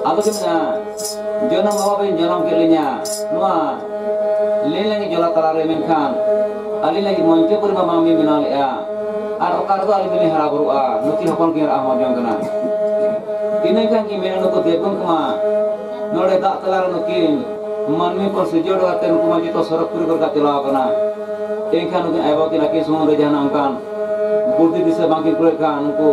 ᱟᱫᱚ ᱠᱤᱱ ᱢᱮᱱᱟ ᱡᱚᱱᱚᱢ ᱵᱟᱵᱟ ᱵᱤᱱ ᱡᱚᱱᱚᱢ ᱠᱮᱫ ᱞᱤᱧᱟ ᱱᱚᱣᱟ ᱞᱮ ᱞᱟᱹᱜᱤᱫ ᱡᱚᱞᱟ ᱛᱟᱞᱟ ᱨᱮ ᱢᱮᱱᱠᱷᱟᱱ ᱟᱹᱞᱤᱧ ᱞᱟᱹᱜᱤᱫ ᱢᱚᱧᱪᱚ ᱯᱩᱨᱤ ᱢᱟᱢᱟ ᱢᱤ ᱵᱮᱱᱟᱣ ᱞᱮᱫᱼᱟ ᱟᱨ ᱚᱠᱟ ᱨᱮᱫᱚ ᱟᱹᱞᱤᱧ ᱫᱚᱞᱤᱧ ᱦᱟᱨᱟ ᱵᱩᱨᱩᱜᱼᱟ ᱱᱩᱠᱤᱱ ᱦᱚᱯᱚᱱ ᱠᱤᱱ ᱨᱟᱜ ᱦᱚᱸ ᱡᱚᱝ ᱠᱟᱱᱟ ᱤᱱᱟᱹ ᱠᱷᱟᱱ ᱠᱤᱱ ᱢᱮᱱᱟ ᱱᱩᱠᱩ ᱫᱮᱵᱚᱱ ᱠᱚᱢᱟ ᱱᱚᱰᱮ ᱫᱟᱜ ᱛᱟᱞᱟ ᱨᱮ ᱱᱩᱠᱤᱱ ᱢᱟᱹᱱᱢᱤ ᱠᱚ ᱥᱤᱨᱡᱚᱱ ᱠᱟᱛᱮ ᱱᱩᱠᱩ ᱢᱟ ᱡᱚᱛᱚ ᱥᱚᱨᱚᱜᱽ ᱯᱩᱨᱤ ᱠᱚᱨᱮ ᱪᱟᱞᱟᱣ ᱠᱟᱱᱟ ᱮᱱᱠᱷᱟᱱ ᱱᱩᱠᱤᱱ ᱟᱭᱳ ᱵᱟᱵᱟ ᱠᱤᱱ ᱟᱹᱠᱤᱱ ᱥᱩᱢᱩᱝ ᱨᱮ ᱡᱟᱦᱟᱱᱟᱜ ᱚᱱᱠᱟᱱ ᱵᱩᱫᱷᱤ ᱫᱤᱥᱟᱹ ᱵᱟᱝᱠᱤᱱ ᱠᱩᱲᱟᱹᱜ ᱠᱷᱟᱱ ᱩᱱᱠᱩ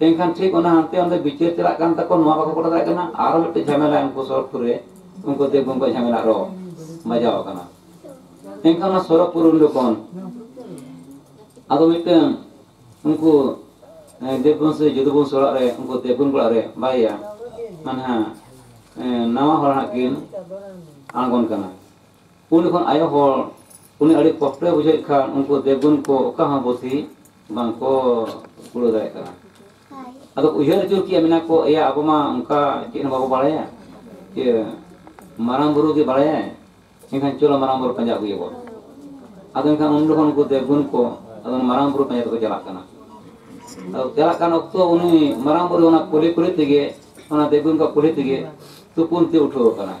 ᱮᱱᱠᱷᱟᱱ ᱴᱷᱤᱠ ᱚᱱᱟ ᱦᱟᱱᱛᱮ ᱚᱱᱛᱮ ᱵᱤᱪᱟᱹᱨ ᱪᱟᱞᱟᱜ ᱠᱟᱱ ᱛᱟᱠᱚ ᱱᱚᱣᱟ ᱵᱟᱠᱚ ᱜᱚᱴᱟ ᱫᱟᱲᱮᱭᱟᱜ ᱠᱟᱱᱟ ᱟᱨᱚ ᱢᱤᱫᱴᱮᱱ ᱡᱷᱟᱢᱮᱞᱟ ᱩᱱᱠᱩ ᱥᱚᱨᱚᱜᱽᱯᱩᱨ ᱨᱮ ᱩᱱᱠᱩ ᱫᱮᱵᱽ ᱜᱚᱝᱠᱮ ᱡᱷᱟᱢᱮᱞᱟ ᱟᱨᱚ ᱵᱟᱡᱟᱣ ᱟᱠᱟᱱᱟ ᱮᱱᱠᱷᱟᱱ ᱚᱱᱟ ᱥᱚᱨᱚᱜᱽᱯᱩᱨ ᱩᱱᱰᱩ ᱠᱷᱚᱱ ᱟᱫᱚ ᱢᱤᱫᱴᱟᱝ ᱩᱱᱠᱩ ᱫᱮᱵᱽᱜᱩᱱ ᱥᱮ ᱡᱚᱫᱩᱵᱚᱱ ᱥᱚᱲᱟᱜ ᱨᱮ ᱩᱱᱠᱩ ᱫᱮᱵᱽᱜᱩᱱ ᱠᱚᱲᱟ ᱨᱮ ᱵᱟᱨᱭᱟ ᱢᱟᱱᱮ ᱦᱟᱸᱜ ᱱᱟᱣᱟ ᱦᱚᱲ ᱦᱟᱸᱜ ᱠᱤᱱ ᱟᱬᱜᱚᱱ ᱠᱟᱱᱟ ᱩᱱ ᱡᱚᱠᱷᱚᱱ ᱟᱭᱳ ᱦᱚᱲ ᱩᱱᱤ ᱟᱹᱰᱤ ᱠᱚᱥᱴᱚᱭ ᱵᱩᱡᱷᱟᱹᱣᱮᱫ ᱠᱷᱟᱱ ᱩᱱᱠᱩ ᱫᱮᱵᱽᱜᱩᱱ ᱠᱚ ᱚᱠᱟ ᱦᱚᱸ ᱵᱩᱫᱷᱤ ᱵᱟᱝᱠᱚ ᱠᱩᱲᱟᱹᱣ ᱫᱟᱲᱮᱭᱟᱜ ᱠᱟᱱᱟ ᱟᱫᱚ ᱩᱭᱦᱟᱹᱨ ᱟᱹᱪᱩᱨ ᱠᱮᱜᱼᱟ ᱢᱮᱱᱟ ᱠᱚ ᱮᱭᱟ ᱟᱵᱚ ᱢᱟ ᱚᱱᱠᱟ ᱪᱮᱫ ᱦᱚᱸ ᱵᱟᱵᱚ ᱵᱟᱲᱟᱭᱟ ᱡᱮ ᱢᱟᱨᱟᱝ ᱵᱩᱨᱩ ᱜᱮ ᱵᱟᱲᱟᱭᱟᱭ ᱮᱱᱠᱷᱟᱱ ᱪᱚᱞᱚ ᱢᱟᱨᱟᱝ ᱵᱩᱨᱩ ᱯᱟᱸᱡᱟ ᱟᱹᱜᱩᱭᱮᱭᱟ ᱵᱚᱱ ᱟᱫᱚ ᱮᱱᱠᱷᱟᱱ ᱩᱱ ᱡᱚᱠᱷᱚᱱ ᱩᱱᱠᱩ ᱫᱮᱵᱽᱜᱩᱱ ᱠᱚ ᱟᱫᱚ ᱢᱟᱨᱟᱝ ᱵᱩᱨᱩ ᱯᱟᱸᱡᱟ ᱛᱮᱠᱚ ᱪᱟᱞᱟᱜ ᱠᱟᱱᱟ ᱟᱫᱚ ᱪᱟᱞᱟᱜ ᱠᱟᱱ ᱚᱠᱛᱚ ᱩᱱᱤ ᱢᱟᱨᱟᱝ ᱵᱩᱨᱩ ᱚᱱᱟ ᱠᱩᱞᱦᱤ ᱠᱩᱞᱦᱤ ᱛᱮᱜᱮ ᱚᱱᱟ ᱫᱮᱵᱽᱜᱩᱱ ᱠᱚᱣᱟᱜ ᱠᱩᱞᱦᱤ ᱛᱮᱜᱮ ᱛᱩᱯᱩᱱ ᱛᱮ ᱩᱴᱷᱟᱹᱣ ᱟᱠᱟᱱᱟᱭ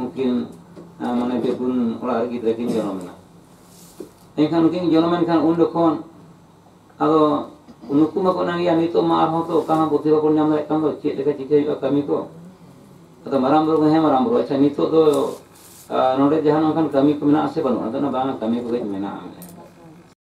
ᱩᱱᱠᱤᱱ ᱢᱟᱱᱮ ᱯᱮ ᱯᱩᱱ ᱚᱲᱟᱜ ᱨᱮ ᱜᱤᱫᱽᱨᱟᱹ ᱠᱤᱱ ᱡᱚᱱᱚᱢᱮᱱᱟ ᱮᱱᱠᱷᱟᱱ ᱩᱱᱠᱤᱱ ᱡᱚᱱᱚᱢᱮᱱ ᱠᱷᱟᱱ ᱩᱱ ᱡᱚᱠᱷᱚᱱ ᱟᱫᱚ ᱱᱩᱠᱩ ᱢᱟᱠᱚ ᱮᱱᱟᱝ ᱜᱮᱭᱟ ᱱᱤᱛᱚᱜ ᱢᱟ ᱟᱨᱦᱚᱸ ᱛᱚ ᱚᱠᱟ ᱦᱚᱸ ᱵᱩᱫᱷᱤ ᱵᱟᱵᱚᱱ ᱧᱟᱢ ᱫᱟᱲᱮᱭᱟᱜ ᱠᱟᱱ ᱫᱚ ᱪᱮᱫ ᱞᱮᱠᱟ ᱪᱤᱠᱟᱹ ᱦᱩᱭᱩᱜᱼᱟ ᱠᱟᱹᱢᱤ ᱠᱚ ᱟᱫᱚ ᱢᱟᱨᱟᱝ ᱵᱩᱨᱩ ᱦᱮᱸ ᱢᱟᱨᱟᱝ ᱵᱩᱨᱩ ᱟᱪᱪᱷᱟ ᱱᱤᱛᱚᱜ ᱫᱚ ᱱᱚᱰᱮ ᱡᱟᱦᱟᱱ ᱚᱱᱠᱟᱱ ᱠᱟᱹᱢᱤ ᱠᱚ ᱢᱮᱱᱟᱜᱼᱟ ᱥᱮ ᱵᱟᱹᱱᱩᱜᱼᱟ ᱟᱫᱚ ᱵᱟᱝ ᱠᱟᱹᱢᱤ ᱠᱚᱜᱮ ᱢᱮᱱᱟᱜᱼᱟ